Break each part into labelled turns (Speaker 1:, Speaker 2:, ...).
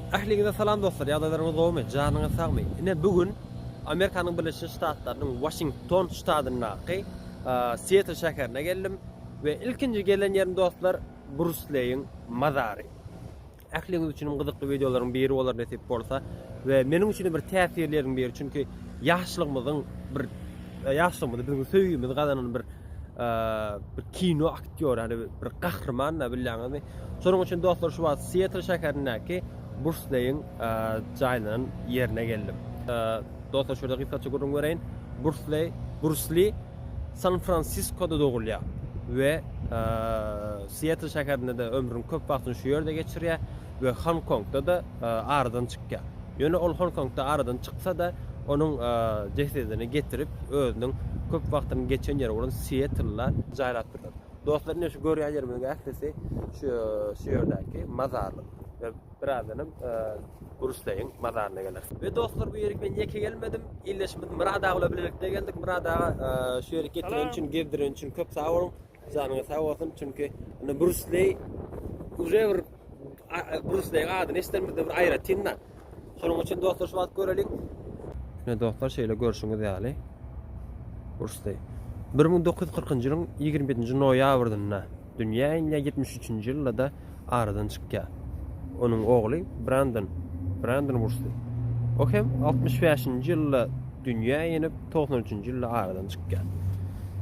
Speaker 1: Ähliňize salam dostlar, ýagdaýlaryňyz gowumy, janyňyz sagmy? Ine bu gün Amerikanyň Birleşen Ştatlarynyň Waşington ştatyndaky Sietl şäherine geldim we ilkinji gelen ýerim dostlar Brusleýiň mazary. Ähliňiz üçin gyzykly wideolaryň biri bolar nesip bolsa we meniň üçin bir täsirli ýeriň biri, çünki ýaşlygymyzyň bir Ýaşlygymyzy biziň söýgimizi gazanan bir bir kino aktýory, ýani bir gahryman da bilýäňizmi? Şonuň üçin dostlar şu wagt Sietl şäherindäki Bursleýiň jaýlanan ýerine geldim. Dostlar şurada gysgaça gürrüň bereýin. Bursley, Bursli San Fransiskoda dogulýar we Sietl şäherinde-de ömrüniň köp wagtyny şu ýerde geçirýär. we Honkongda-da aradan çykýar. Ýöne ol Honkongda aradan çyksa-da, onuň jesedini getirip, özüniň köp wagtynyň geçen ýeri bolan Siettlda jaýlap durlar. Dostlar, ine şu görýän ýerimiziň ählisi şu şu ýerdäki mazarlyk. We birazdanam Burusleýiň mazaryna geleris. We dostlar, bu ýerik men ýeke gelmedim. Ildeşimiz Myrad aga bilen bilelikde geldik. Myrad aga şu ýeri getireni üçin, gezdireni üçin köp sag boluň. Janyňyz sag bolsun, çünki indi Brus Leý uje bir Brus Leýiň adyny eşidenimizde bir aýratyn-da. Şonuň üçin dostlar şu wagt göreliň. Ine dostlar şeýle görşüňiz ýaly Brus Leý 1940-njy ýylyň ýigrimi ýedinji noýabrynda dünýä inýär, ýetmiş üçünji ýylda-da aradan çykýar. Onuň ogly Brandon, Brandon Wursli. O hem altmyş bäşinji ýylda dünýä inip, togsan üçünji ýylda aradan çykýar.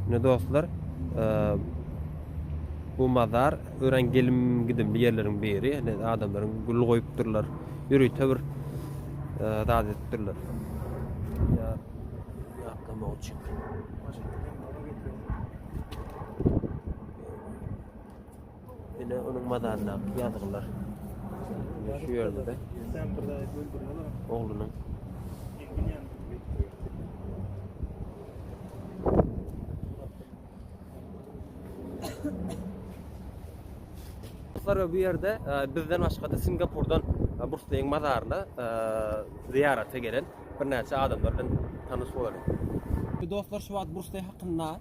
Speaker 1: Ine dostlar, bu mazar örän gelim-gidimli ýerleriň biri. Ine adamlaryň gül goýupdyrlar, ýörite bir zat edipdirler. Ýa ýatlamak üçin. Ine onuň mazaryndaky ýazgylar. Şu ýerde-de oglunyň Dostlar, bu ýerde e, bizden başga-da Singapurdan e, Brusleýiň mazaryna e, zyýarata gelen birnäçe adamlar bilen tanyş bolarys. Dostlar, şu wagt Brusleý hakynda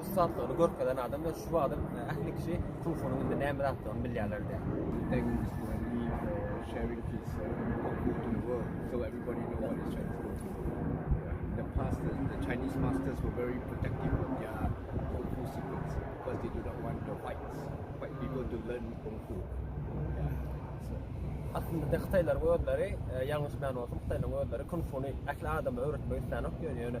Speaker 1: ussatlygyny görkezen adam we şu wagtda ähli kişi Tufunyň indi näme zatdygyny bilýärler
Speaker 2: diýýär. Chinese masters were very protective of their kung fu secrets because they do not want the whites, white people to learn kung fu.
Speaker 1: Aslynda hytaýlaryň özleri, ýalňyşmaýan bolsam, hytaýlaryň özleri kung funi ähli adama öwretmek isleýän ýok, ýöne